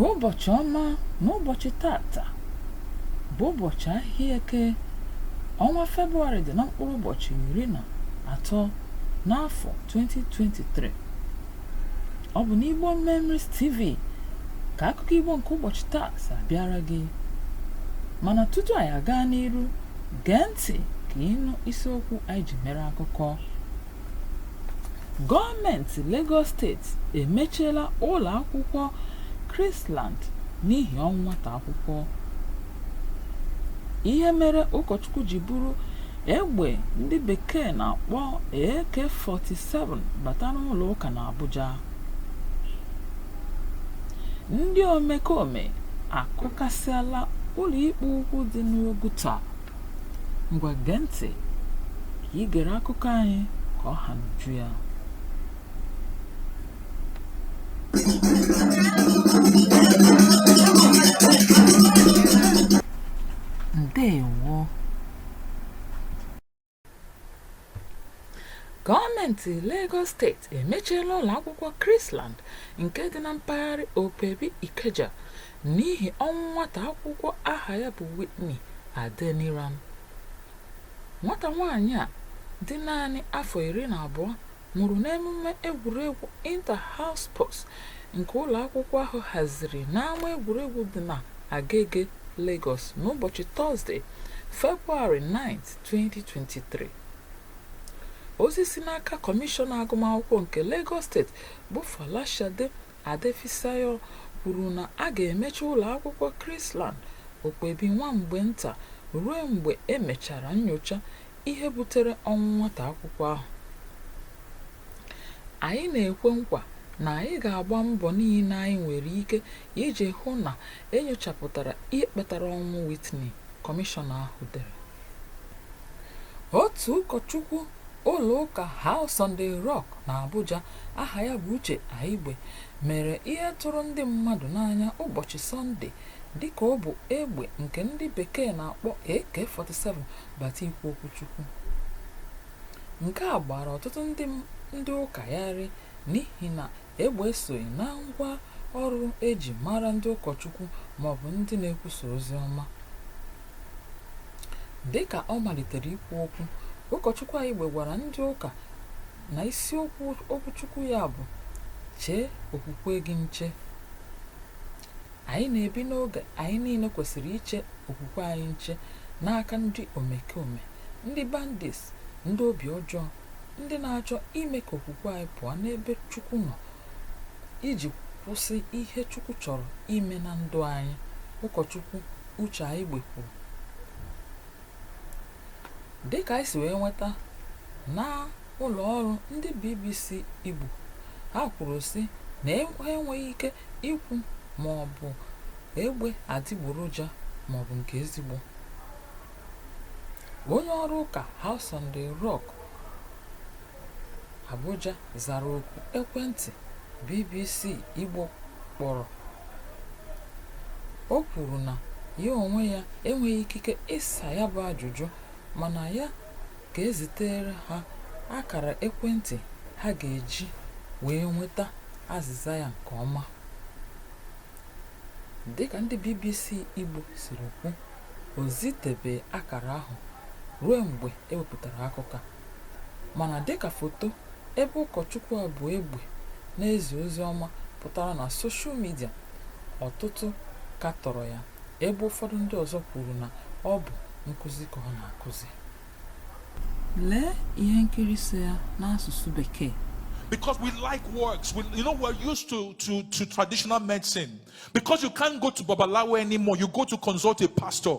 ụbọchị ọma n'ụbọchị tata bụ ụbọchị ahịa eke ọnwa febụwarị dị na mkpụrụ ụbọchị iri na atọ n'afọ 2023 ọ bụ n'igbo memories tv ka akụkọ igbo nke ụbọchị taa si abịara gị mana tutu anyị aga n'iru gee ntị ka ị nụ isiokwu anyị ji mere akụkọ Gọọmenti Lagos steeti emechiela ụlọ akwụkwọ Chrisland n'ihi ọnwụ nwata akwụkwọ. Ihe mere ụkọchukwu ji buru egbe ndị bekee na-akpọ AK-47 bata n'ụlọ ụka n'Abuja. Ndị omekome akụkasịala ụlọikpe ukwu dị n'Oguta. Ngwa gee ntị ka ị gere akụkọ anyị ka ọ ha n'uju ya. Ndewo. Gọọmenti Lagos steeti emechiela ụlọakwụkwọ Chrisland nke dị na mpaghara Opebi Ikeja n'ihi ọnwụ nwata akwụkwọ aha ya bụ Whitney Adeniran. Nwata nwaanyị a dị naanị afọ iri na abụọ nwụrụ n'emume egwuregwu Inter-House Sports nke ụlọakwụkwọ ahụ haziri n'ama egwuregwu dị na Agege, Lagos n'ụbọchị Tọzde, Febụwarị 9, 2023 ozi si n'aka kọmishọna agụmakwụkwọ nke Lagos steeti bụ Folashade Adefisayo kwuru na a ga-emechi ụlọ akwụkwọ Chrisland Opebi nwa mgbe nta ruo mgbe e mechara nyocha ihe butere ọnwụ nwata akwụkwọ ahụ. Anyị na-ekwe nkwa na anyị ga-agba mbọ niile anyị nwere ike iji hụ na e nyochapụtara ihe kpatara ọnwụ Whitney. kọmishọna ahụ dere otu ụkọchukwu ụlọụka House on the Rock n'Abuja aha ya bụ Uche Aigbe mere ihe tụrụ ndị mmadụ n'anya ụbọchị Sọnde dịka o bu egbe nke ndị bekee na-akpọ AK-47 bata ikwu okwuchukwu nke a gbara ọtụtụ ndị ụka gharịị n'ihi na Egbe esoghị na ngwa ọrụ e ji mara ndị ụkọchukwu maọbụ ndị na-ekwusa ozi ọma. Dị ka ọ malitere ikwu okwu, ụkọchukwu Aigbe gwara ndị ụka na isiokwu okwuchukwu ya bụ Chee Okwukwe Gị Nche. Anyị na-ebi n'oge anyị niile kwesịrị iche okwukwe anyị nche n'aka ndị omekome, ndị bandits, ndị obi ọjọọ ndị na-achọ ime ka okwukwe anyị pụọ n'ebe Chukwu nọ iji kwụsị ihe Chukwu chọrọ ime na ndụ anyị ụkọchukwu Uche Aigbe kwuru dịka anyị si wee nweta na ụlọ ọrụ ndị BBC Igbo ha kwuru sị na e, enweghị ike ikwu ma ọ bụ egbe adịgboroja ma ọ bụ nke ezigbo onye ọrụ ụka House on the Rock Abuja zara oku ekwentị BBC Igbo kpọrọ. O kwuru na ya onwe ya enweghị ikike ịsa ya bụ ajụjụ mana ya ga-ezitere ha akara ekwentị ha ga-eji wee nweta azịza ya nke ọma. Dịka ndị BBC Igbo siri kwu, o zitebeghị akara ahụ ruo mgbe ewepụtara akụkọ a mana dịka foto ebe ụkọchukwu a bu egbe na-ezi ozi ọma pụtara na soshal midia ọtụtụ katọrọ ya ebe ụfọdụ ndị ọzọ kwuru na ọ bụ nkụzi ka ọ na-akụzi lee ihe nkiri so ya n'asụsụ bekee because we like works. We, you know, we're used to, to, to traditional medicine. Because you can't go to Babalawo anymore, you go to consult a pastor.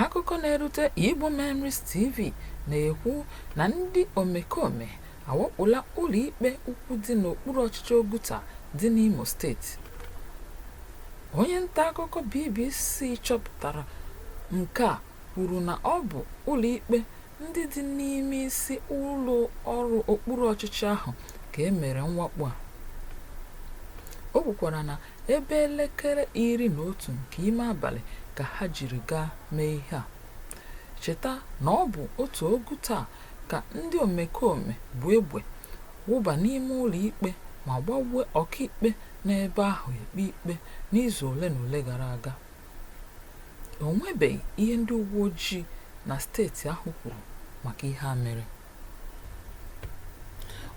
Akụkọ na-erute Igbo Memories TV na-ekwu na ndị omekome awakpola ụlọikpe ukwu dị n'okpuru ọchịchị Oguta dị n'Imo steeti. Onye nta akụkọ BBC chọpụtara nke a kwuru na ọ bụ ụlọikpe ndị dị n'ime isi ụlọ ọrụ okpuru ọchịchị ahụ ka e mere mwakpo a. O kwukwara na Ebe elekere iri na otu nke ime abalị ka ha jiri gaa mee ihe a. Cheta na ọ bụ otu Oguta ka ndị omekome bu egbe wụba n'ime ụlọikpe ma gbagbuo ọkaikpe nọ ebe ahụ ekpe ikpe n'izu ole na ole gara aga. O nwebeghị ihe ndị uweojii na steeti ahụ kwuru maka ihe a mere.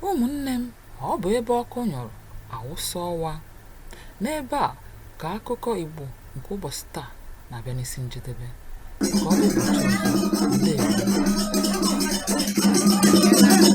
Ụmụnne m, ọ bụ ebe ọkụ nyụrụ awụsa ọwa. N'ebe a ka akụkọ Igbo nke ụbọchị taa na-abịa n'isi njedebe. Ka ọ dị ụbọchị ọzọ, ndewo.